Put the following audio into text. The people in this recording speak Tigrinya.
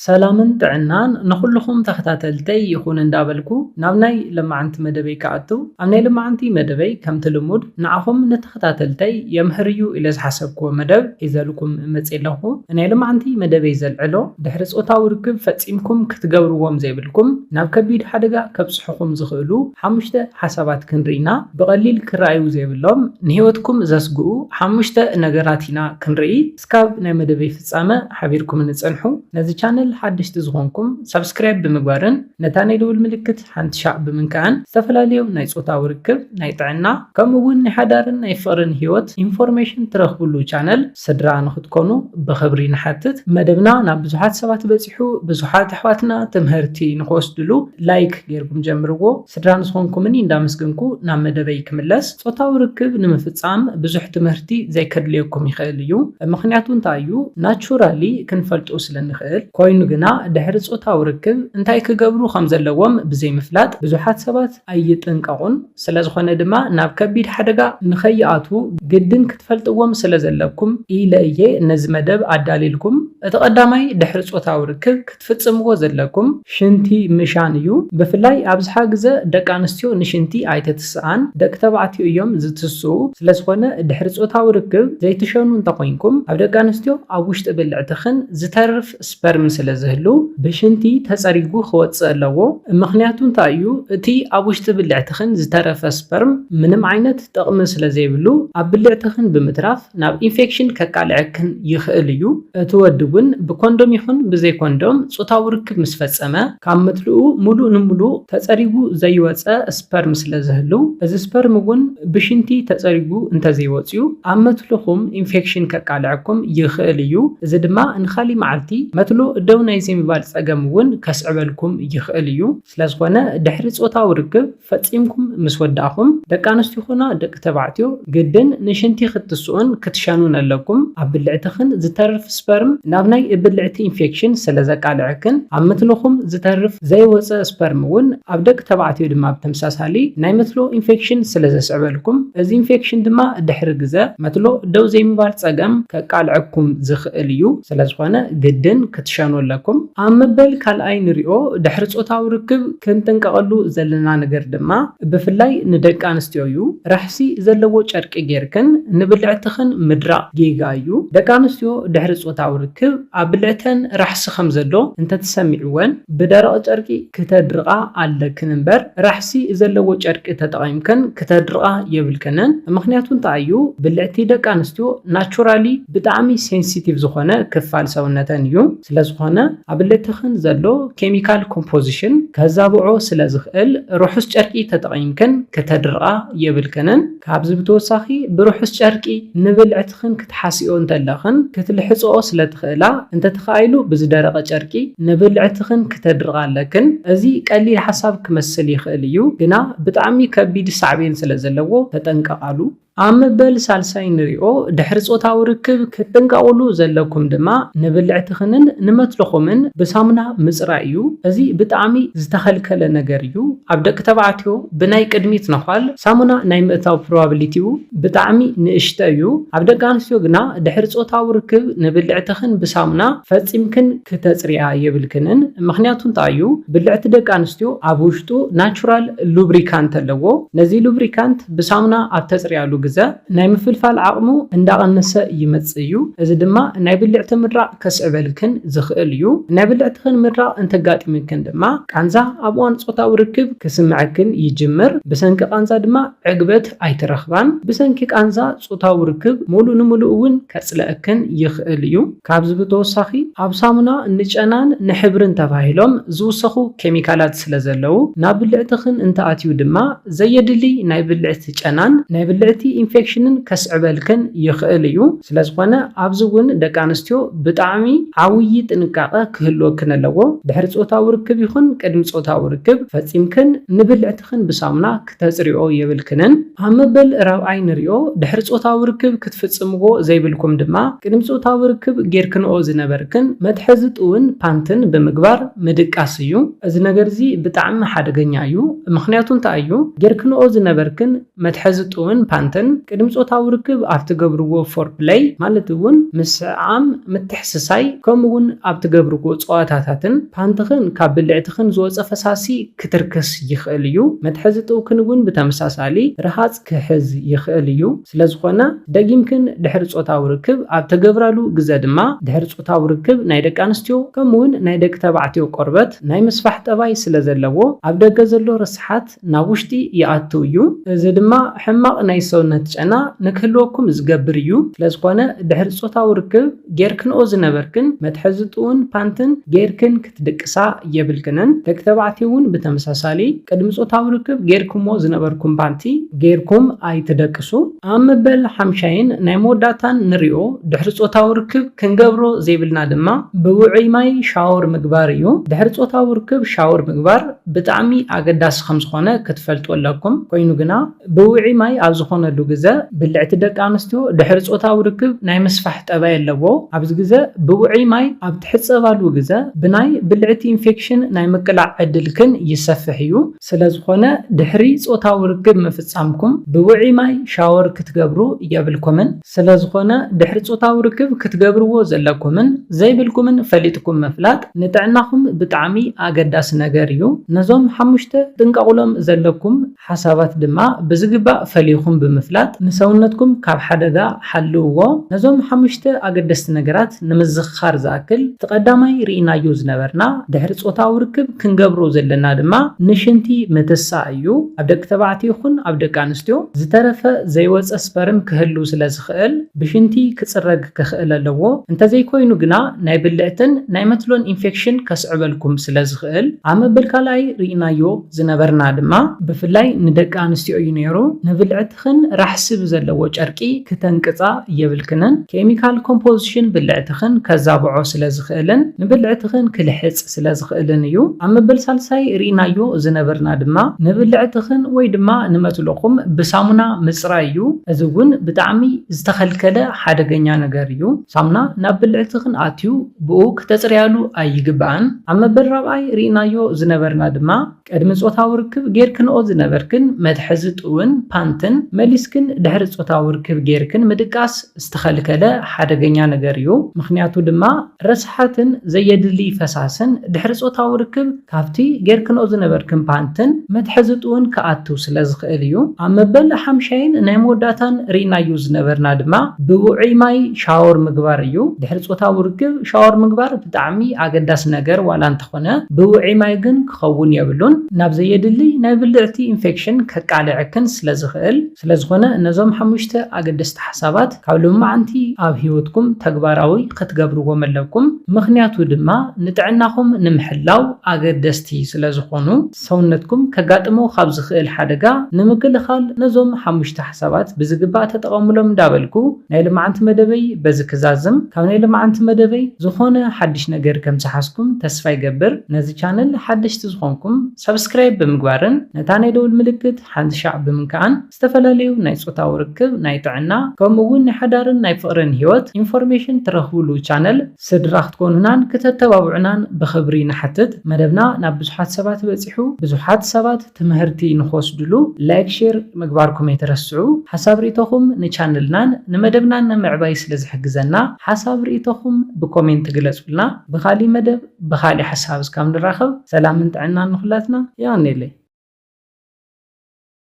ሰላምን ጥዕናን ንኹሉኹም ተኸታተልተይ ይኹን እንዳበልኩ ናብ ናይ ለማዓንቲ መደበይ ክኣትው ኣብ ናይ ለማዓንቲ መደበይ ከምቲ ልሙድ ንዓኹም ንተኸታተልተይ የምህር እዩ ኢለ ዝሓሰብክዎ መደብ ሒዘልኩም መጽየ ኣለኹ ናይ ለማዓንቲ መደበይ ዘልዕሎ ድሕሪ ጾታዊ ርክብ ፈጺምኩም ክትገብርዎም ዘይብልኩም ናብ ከቢድ ሓደጋ ከብጽሑኹም ዝኽእሉ ሓሙሽተ ሓሳባት ክንርኢ ኢና ብቐሊል ክረኣዩ ዘይብሎም ንሂወትኩም ዘስግኡ ሓሙሽተ ነገራት ኢና ክንርኢ እስካብ ናይ መደበይ ፍጻመ ሓቢርኩምኒ ጸንሑ። ነዚ ቻነል ሓደሽቲ ዝኾንኩም ሳብስክራይብ ብምግባርን ነታ ናይ ደውል ምልክት ሓንቲ ሻዕ ብምንካዕን ዝተፈላለዩ ናይ ጾታዊ ርክብ፣ ናይ ጥዕና ከምኡ ውን ናይ ሓዳርን ናይ ፍቕርን ሂወት ኢንፎርሜሽን ትረኽብሉ ቻነል ስድራ ንኽትኮኑ ብኽብሪ ንሓትት። መደብና ናብ ብዙሓት ሰባት በጺሑ ብዙሓት ኣሕዋትና ትምህርቲ ንኽወስድሉ ላይክ ጌርኩም ጀምርዎ። ስድራ ምስኾንኩምኒ እንዳመስገንኩ ናብ መደበይ ክምለስ፣ ጾታዊ ርክብ ንምፍጻም ብዙሕ ትምህርቲ ዘይከድልየኩም ይኽእል እዩ ምኽንያቱ እንታይ እዩ ናቹራሊ ክንፈልጦ ስለ ንኽእል ኮይኑ ግና ድሕሪ ጾታዊ ርክብ እንታይ ክገብሩ ከም ዘለዎም ብዘይምፍላጥ ብዙሓት ሰባት ኣይጥንቀቑን ስለዝኾነ ድማ ናብ ከቢድ ሓደጋ ንኸይኣትዉ ግድን ክትፈልጥዎም ስለ ዘለኩም ኢለ እየ ነዚ መደብ ኣዳልየልኩም እቲ ቀዳማይ ድሕሪ ጾታዊ ርክብ ትፍጽምዎ ዘለኩም ሽንቲ ምሻን እዩ ብፍላይ ኣብዝሓ ግዘ ደቂ ኣንስትዮ ንሽንቲ ኣይተትስኣን ደቂ ተባዕትዮ እዮም ዝትስኡ ስለዝኾነ ድሕሪ ጾታዊ ርክብ ዘይትሸኑ እንተኾይንኩም ኣብ ደቂ ኣንስትዮ ኣብ ውሽጢ ብልዕትኽን ዝተርፍ ስፐርም ስለዝህሉ ብሽንቲ ተጸሪጉ ክወጽእ ኣለዎ ምኽንያቱ እንታይ እዩ እቲ ኣብ ውሽጢ ብልዕትኽን ዝተረፈ ስፐርም ምንም ዓይነት ጥቕሚ ስለዘይብሉ ኣብ ብልዕትኽን ብምትራፍ ናብ ኢንፌክሽን ከቃልዐክን ይኽእል እዩ። እቲ ወዲ እውን ብኮንዶም ይኹን ብዘይ ኮንዶም ፆታዊ ርክብ ምስ ፈፀመ፣ ካብ ምድልኡ ሙሉእ ንሙሉእ ተፀሪጉ ዘይወፀ ስፐርም ስለ ዝህልው፣ እዚ ስፐርም እውን ብሽንቲ ተፀሪጉ እንተዘይወፅዩ ኣብ መትልኹም ኢንፌክሽን ከቃልዐኩም ይኽእል እዩ። እዚ ድማ ንካሊእ መዓልቲ መትሎ ደው ናይ ዘይምባል ፀገም እውን ከስዕበልኩም ይኽእል እዩ። ስለዝኾነ ድሕሪ ፆታዊ ርክብ። ፈጺምኩም ምስ ወዳእኹም፣ ደቂ ኣንስትዮ ኹና ደቂ ተባዕትዮ፣ ግድን ንሽንቲ ክትስኡን ክትሸኑን ኣለኩም። ኣብ ብልዕትኽን ዝተርፍ ስፐርም ናብ ናይ ብልዕቲ ኢንፌክሽን ስለ ዘቃልዐክን፣ ኣብ ምትልኹም ዝተርፍ ዘይወጸ ስፐርም እውን ኣብ ደቂ ተባዕትዮ ድማ ብተምሳሳሊ ናይ መትሎ ኢንፌክሽን ስለ ዘስዕበልኩም፣ እዚ ኢንፌክሽን ድማ ድሕሪ ግዘ መትሎ ደው ዘይምባል ጸገም ከቃልዐኩም ዝኽእል እዩ። ስለዝኾነ ግድን ክትሸኑ ኣለኩም። ኣብ መበል ካልኣይ ንሪኦ ድሕሪ ጾታዊ ርክብ ክንጥንቀቐሉ ዘለና ነገር ድማ ብፍላይ ንደቂ ኣንስትዮ እዩ። ራሕሲ ዘለዎ ጨርቂ ጌርክን ንብልዕትኽን ምድራቕ ጌጋ እዩ። ደቂ ኣንስትዮ ድሕሪ ጾታዊ ርክብ ኣብ ብልዕተን ራሕሲ ከም ዘሎ እንተተሰሚዕወን ብደረቕ ጨርቂ ክተድርቓ ኣለክን እምበር ራሕሲ ዘለዎ ጨርቂ ተጠቒምክን ክተድርቓ የብልክንን ምኽንያቱ እንታይ እዩ ብልዕቲ ደቂ ኣንስትዮ ናቹራሊ ብጣዕሚ ሴንሲቲቭ ዝኾነ ክፋል ሰውነተን እዩ ስለዝኾነ ኣብልዕትኽን ዘሎ ኬሚካል ኮምፖዚሽን ከዛብዖ ስለዝኽእል ርሑስ ጨርቂ ተጠቒምክን ክተድርቓ የብልክንን ካብዚ ብተወሳኺ ብርሑስ ጨርቂ ንብልዕቲ ንስኽን ክትሓስይኦ እንተለኽን ክትልሕጽኦ ስለ ትኽእላ፣ እንተተኻኢሉ ብዝደረቐ ጨርቂ ንብልዕትኽን ክተድርቓ ኣለክን። እዚ ቀሊል ሓሳብ ክመስል ይኽእል እዩ፣ ግና ብጣዕሚ ከቢድ ሳዕቤን ስለ ዘለዎ ተጠንቀቓሉ። ኣብ መበል ሳልሳይ ንሪኦ፣ ድሕሪ ጾታዊ ርክብ ክትጥንቀቑሉ ዘለኩም ድማ ንብልዕትኽንን ንመትልኹምን ብሳሙና ምጽራይ እዩ። እዚ ብጣዕሚ ዝተኸልከለ ነገር እዩ፣ ኣብ ደቂ ተባዕትዮ ብናይ ቅድሚት ነዃል ሳሙና ናይ ምእታው ፕሮባብሊቲኡ፣ ብጣዕሚ ንእሽተ እዩ። ኣብ ደቂ ኣንስትዮ ግና ድሕሪ ጾታዊ ርክብ ንብልዕትኽን ብሳሙና ፈጺምክን ክተጽርያ የብልክንን። ምኽንያቱ እንታይ እዩ? ብልዕቲ ደቂ ኣንስትዮ ኣብ ውሽጡ ናቹራል ሉብሪካንት ኣለዎ። ነዚ ሉብሪካንት ብሳሙና ኣብ ተጽርያሉ ግዘ ናይ ምፍልፋል ዓቕሙ እንዳቐነሰ ይመጽእ እዩ። እዚ ድማ ናይ ብልዕቲ ምድራቕ ከስዕበልክን ዝኽእል እዩ። ናይ ብልዕትኽን ምድራቕ እንተጋጢምክን ድማ ቃንዛ ኣብ እዋን ጾታዊ ርክብ ክስምዐክን ይጅምር። ብሰንኪ ቃንዛ ድማ ዕግበት ፍትሒ ኣይትረኽባን። ብሰንኪ ቃንዛ ጾታዊ ርክብ ምሉእ ንምሉእ እውን ከጽልኣክን ይኽእል እዩ። ካብዚ ብተወሳኺ ኣብ ሳሙና ንጨናን ንሕብርን ተባሂሎም ዝውሰኹ ኬሚካላት ስለ ዘለዉ ናብ ብልዕትኽን እንተኣትዩ ድማ ዘየድሊ ናይ ብልዕቲ ጨናን ናይ ብልዕቲ ኢንፌክሽንን ከስዕበልክን ይኽእል እዩ። ስለ ዝኾነ ኣብዚ እውን ደቂ ኣንስትዮ ብጣዕሚ ዓውዪ ጥንቃቐ ክህልወክን ኣለዎ። ድሕሪ ጾታዊ ርክብ ይኹን ቅድሚ ጾታዊ ርክብ ፈጺምክን ንብልዕትኽን ብሳሙና ክተጽርይኦ የብልክንን። ኣብ መበል ራብዓይ ንሪኦ፣ ድሕሪ ጾታዊ ርክብ ክትፍጽምዎ ዘይብልኩም ድማ፣ ቅድሚ ጾታዊ ርክብ ጌርክንኦ ዝነበርክን መትሐዚ ጥውን፣ ፓንትን፣ ብምግባር ምድቃስ እዩ። እዚ ነገር'ዚ ብጣዕሚ ሓደገኛ እዩ። ምኽንያቱ እንታይ እዩ? ጌርክንኦ ዝነበርክን መትሐዚ ጥውን፣ ፓንትን፣ ቅድሚ ጾታዊ ርክብ ኣብ ትገብርዎ ፎርፕለይ፣ ማለት እውን ምስዕዓም፣ ምትሕስሳይ፣ ከምኡ'ውን ኣብ ትገብርዎ ጸዋታታትን፣ ፓንትኽን ካብ ብልዕትኽን ዝወጸ ፈሳሲ፣ ክትርክስ ይኽእል እዩ። መትሐዚ ጥውክን እውን ብተመሳሳሊ ርሃጽ ክሕዝ ይኽእል እዩ። ስለዝኾነ ደጊምክን ድሕሪ ጾታዊ ርክብ ኣብ ተገብራሉ ግዘ ድማ ድሕሪ ጾታዊ ርክብ ናይ ደቂ ኣንስትዮ ከምኡ እውን ናይ ደቂ ተባዕትዮ ቆርበት ናይ ምስፋሕ ጠባይ ስለዘለዎ ኣብ ደገ ዘሎ ርስሓት ናብ ውሽጢ ይኣትው እዩ። እዚ ድማ ሕማቕ ናይ ሰውነት ጨና ንክህልወኩም ዝገብር እዩ። ስለዝኾነ ድሕሪ ጾታዊ ርክብ። ጌርክንኦ ዝነበርክን መትሐዝጥኡን ፓንትን ጌርክን ክትድቅሳ የብልክንን ደቂ ተባዕትዮ እውን ብተመሳሳሊ ቅድሚ ጾታዊ ርክብ ጌርክሞ ዝነበርኩም ፓንቲ ጌርኩም ኣይትደቅሱ። ኣብ መበል ሓምሻይን ናይ መወዳእታን ንሪኦ ድሕሪ ጾታዊ ርክብ ክንገብሮ ዘይብልና ድማ ብውዑይ ማይ ሻወር ምግባር እዩ ድሕሪ ጾታዊ ርክብ ሻወር ምግባር ብጣዕሚ ኣገዳሲ ከምዝኾነ ክትፈልጡ ኣለኩም ኮይኑ ግና ብውዒ ማይ ኣብ ዝኾነሉ ግዘ ብልዕቲ ደቂ ኣንስትዮ ድሕሪ ፆታዊ ርክብ ናይ ምስፋሕ ጠባይ ኣለዎ። ኣብዚ ግዘ ብውዑይ ማይ ኣብ ትሕፀባሉ ግዘ ብናይ ብልዕቲ ኢንፌክሽን ናይ ምቅላዕ ዕድልክን ይሰፍሕ እዩ። ስለዝኾነ ድሕሪ ፆታዊ ርክብ ምፍፃምኩም ብውዒ ማይ ሻወር ክትገብሩ የብልኩምን። ስለዝኾነ ድሕሪ ፆታዊ ርክብ ክትገብርዎ ዘለኩምን ዘይብልኩምን ፈሊጥኩም ምፍላጥ ንጥዕናኹም ብጣዕሚ ኣገዳሲ ነገር እዩ። ነዞም ሓሙሽተ ክትጥንቀቑሎም ዘለኩም። ሓሳባት ድማ ብዝግባእ ፈሊኹም ብምፍላጥ ንሰውነትኩም ካብ ሓደጋ ሓልውዎ። ነዞም ሓሙሽተ ኣገደስቲ ነገራት ንምዝኽኻር ዝኣክል፣ እቲ ቀዳማይ ርኢናዮ ዝነበርና ድሕሪ ጾታዊ ርክብ ክንገብሮ ዘለና ድማ ንሽንቲ ምትሳእ እዩ። ኣብ ደቂ ተባዕትዮ ይኹን ኣብ ደቂ ኣንስትዮ ዝተረፈ ዘይወጸ ስፐርም ክህሉ ስለ ዝኽእል ብሽንቲ ክጽረግ ክኽእል ኣለዎ። እንተዘይኮይኑ ግና ናይ ብልዕትን ናይ መትሎን ኢንፌክሽን ከስዕበልኩም ስለ ዝኽእል ኣብ መበል ካልኣይ ርኢናዮ። ዝነበርና ድማ ብፍላይ ንደቂ ኣንስትዮ እዩ ነይሩ። ንብልዕትኽን ራሕሲ ብዘለዎ ጨርቂ ክተንቅጻ የብልክንን። ኬሚካል ኮምፖዝሽን ብልዕትኽን ከዛብዖ ስለ ዝኽእልን ንብልዕትኽን ክልሕጽ ስለ ዝኽእልን እዩ። ኣብ መበል ሳልሳይ ርኢናዮ ዝነበርና ድማ ንብልዕትኽን ወይ ድማ ንመትሎኹም ብሳሙና ምጽራይ እዩ። እዚ እውን ብጣዕሚ ዝተኸልከለ ሓደገኛ ነገር እዩ። ሳሙና ናብ ብልዕትኽን ኣትዩ ብኡ ክተጽርያሉ ኣይግባእን። ኣብ መበል ራብዓይ ርኢናዮ ዝነበርና ድማ ቅድሚ ጾታዊ ርክብ ጌርክንኦ ዝነበርክን መትሐዚ ጥውን፣ ፓንትን፣ መሊስክን ድሕሪ ጾታዊ ርክብ ጌርክን ምድቃስ ዝተኸልከለ ሓደገኛ ነገር እዩ። ምኽንያቱ ድማ ረስሓትን ዘየድልይ ፈሳስን ድሕሪ ጾታዊ ርክብ ካብቲ ጌርክንኦ ዝነበርክን ፓንትን፣ መትሐዚ ጥውን፣ ክኣትው ስለዝኽእል እዩ። ኣብ መበል ሓምሻይን ናይ መወዳእታን ርኢናዮ ዝነበርና ድማ ብውዑይ ማይ ሻወር ምግባር እዩ። ድሕሪ ጾታዊ ርክብ ሻወር ምግባር ብጣዕሚ ኣገዳሲ ነገር ዋላ እንተኾነ ብውዕይ ማይ ግን ክኸውን የብሉን ናብ ዘየድልይ ናይ ብልዕቲ ኢንፌክሽን ከቃልዐክን ስለ ዝኽእል ስለዝኾነ ነዞም ሓሙሽተ ኣገደስቲ ሓሳባት ካብ ሎማዓንቲ ኣብ ሂወትኩም ተግባራዊ ክትገብርዎም ኣለኩም ምኽንያቱ ድማ ንጥዕናኹም ንምሕላው ኣገደስቲ ስለዝኾኑ። ሰውነትኩም ከጋጥሞ ካብ ዝኽእል ሓደጋ ንምክልኻል ነዞም ሓሙሽተ ሓሳባት ብዝግባእ ተጠቐሙሎም እንዳበልኩ ናይ ልማዓንቲ መደበይ በዚ ክዛዝም ካብ ናይ ልማዓንቲ መደበይ ዝኾነ ሓድሽ ነገር ከም ዝሓዝኩም ተስፋ ይገብር ነዚ ቻነል ሓደሽቲ ዝኾንኩም ሳብስክራይብ ብምግባርን ነታ ናይ ደውል ምልክት ሓንቲ ሻዕ ብምንካኣን ዝተፈላለዩ ናይ ጾታዊ ርክብ፣ ናይ ጥዕና፣ ከምኡ እውን ናይ ሓዳርን ናይ ፍቕርን ህይወት ኢንፎርሜሽን ትረኽቡሉ ቻነል ስድራ ክትኮኑናን ክተተባብዑናን ብኽብሪ ንሓትት። መደብና ናብ ብዙሓት ሰባት በጺሑ ብዙሓት ሰባት ትምህርቲ ንኽወስድሉ ላይክ ሼር ምግባርኩም ኣይትረስዑ። ሓሳብ ርኢቶኹም ንቻነልናን ንመደብናን ንምዕባይ ስለ ዝሕግዘና ሓሳብ ርኢቶኹም ብኮሜንት ግለጹልና። ብኻሊእ መደብ ብኻሊእ ሓሳብ እስካብ ንራኸብ ሰላምን ጥዕናን ንኹላትና። የቐኔለይ።